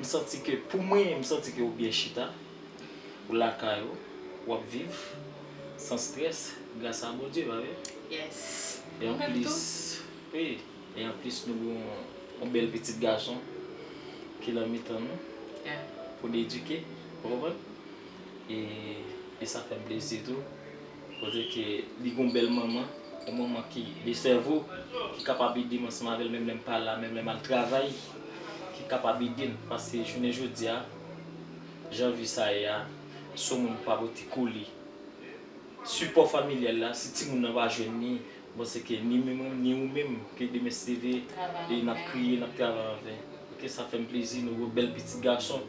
M santi ke pou mwen m santi ke ou byen chita, ou lakay ou, wap viv san stress gras a Bondye pa vre? Yes. Ou menm tou? Wi, e anplis nou gen yon bèl pitit gason ki lan mitan nou pou n edike ou konprann? E sa fèm plezi tou. Koze ke li gon bèl manman, yon manman ki de sèvo, ki kapab ede m ansanm avè l menm lè m pa la, menm lè m al travay, ki kapab ede m. Paske jounen jodi a, jan vi sa ye a, si yon moun pa pote kole, sipò familyal la, si timoun nan pa jwenn li, m panse ke ni menm mwen, ni ou menm, ke demen se leve, n ap kriye, n ap travay an ven. Ok, sa fè m plezi, nou gen yon bèl pitit gason.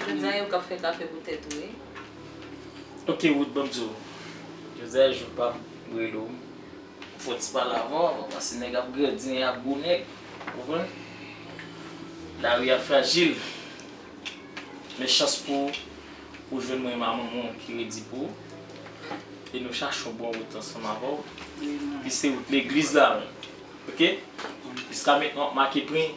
Jodia yo kap fè kafe pou tèt ou wi. Ok Ruth bòm diw jodia jou pam m rele w pou fè w ti pale avè w avan pase nèg ap grandi nèg ap gwo nèg ou konprann lari a frajil men chans pou w ou jwenn mwen ma manman w ki redi pou ou e nou chache yon bon wout ansanm avè w wi se wout legliz la wi ok jiska mentnan wap make pwen.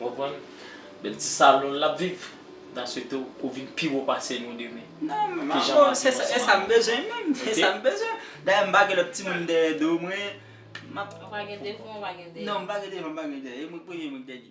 Ou konprann? Bèl ti salon lap viv. Mta swete w ou vin pi wo pase nou demen. Non men ma bro, se sa m bezwen menm. Se sa m bezwen. Dayè m pa gen lòt timoun dèyè do mwen. Ou pa gen devan, ou pa gen dèyè. Non, m pa gen devan, m pa gen dèyè. E mwen k premye, mwen k dènye.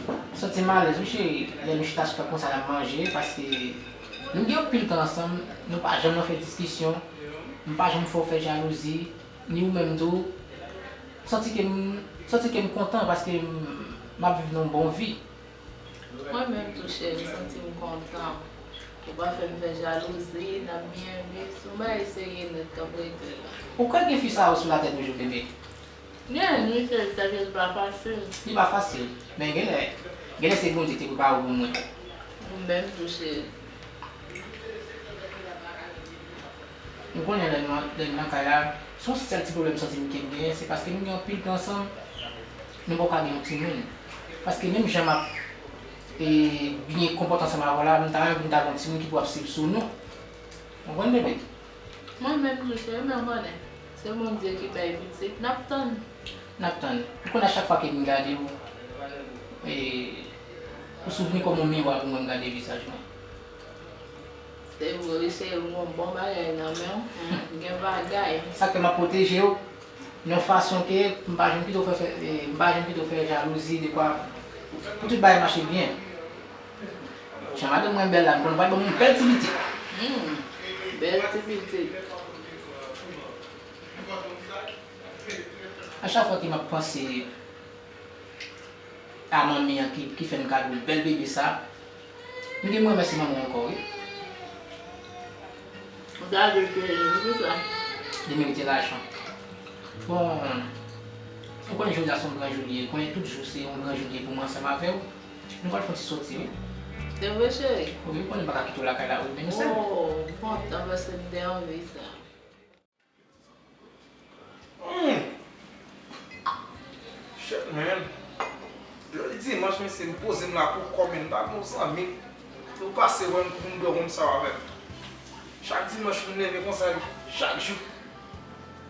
M santi m alèz wi cheri lè nou chita sou tap konsa nap manje paske nou gen anpil tan ansanm nou pa janm nan fè diskisyon m pa janm fè w fè jalouzi ni ou menm tou m santi ke m santi ke m kontan paske map viv yon bon vi. Mwen menm tou cheri m santi m kontan ou pa fè m fè jalouzi nap byen viv se yon bagay serye nèt kap rete la. Ou kwè gen fi sa yo sou latè toujou bebe? Genlè nuit fèl sa kèl pa fasil. Li pa fasil men genlè genlè se Bondye te prepare w pou mwen. Ou menm tou cheri. Nou konnen lè nou nan kay la son sèl ti pwoblèm m santi m kem genyen se paske nou gen anpil tan ansanm nou poko ka gen yon timoun paske menm jan map byen konpòte ansanm avèw la m ta renmen pou nou ta gen yon timoun ki pou ap swiv sou nou ou konprann bebe. Mwen menm tou cheri men ou konnen se Bondye ki bay pitit nap tann. Nap tann. Ou konn a chak fwa kem gade ou ou souvni kòm yon miwa pou mwen m gade vizaj mwen. Se vre wi cheri m gon bon bagay nan menw ou gen bagay. Sak fè map pwotejew yon fason ke m pa janm kite w fè m pa janm kite w fè jalouzi dekwa pou tout bagay mache byen. Jan madanm mwen bèl la mkonn pral banm yon bèl ti pitit. Humm bèl ti pitit. A chak fwa ke map panse a manmi an ki fèm kado bèl bebe sa m genm remèsye manman ankò wi. Gade pitit la pou kisa. Li merite lajan. Bon ou konnen jodi a son gran jou li ye, konnen tout jou se yon gran jou li ye pou mwen ansanm avèw. Nou pral fon ti soti wi. Se vre cheri? Wi ou konnen m paka kite w lakay la wi menm sèl. Oh bon tan pase m te anvi sa. Humm shit man Jodi dimanch mesye m poze m la pou kò men m pa gen yon zanmi pou pase wè m pou m bwè yon saw avè m. Chak dimanch m leve konsa wi chak jou.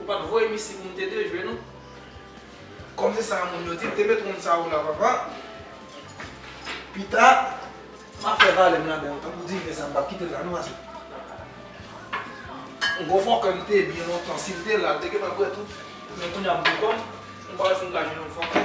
Ou pat voye missy pou m te de jwe non. Kòm se sa moun yo di, te met wonn sa ou la papa. Pita, map fè valè m la ba ou tankou diven sa m pap kite l la non ase. On gwo fòkè m te byen lontan si l te la l te gentan bwè tout. Men kounya m gwo kòn, m pa wè si m ka jwenn on fòkè.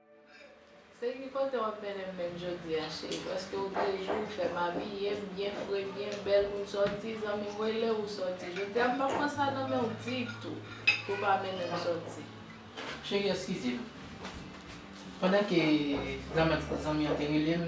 Se ki kote wap mennen menn jodi a cheri paske ou te di ou fèm abiyem byen fre byen bèl poun sòti zanmim rele ou sòti jodi a m pap pran sa nan menw ditou pou pa mennenm sòti. Cheri eskize m. Pandan ke zanmi an te rele m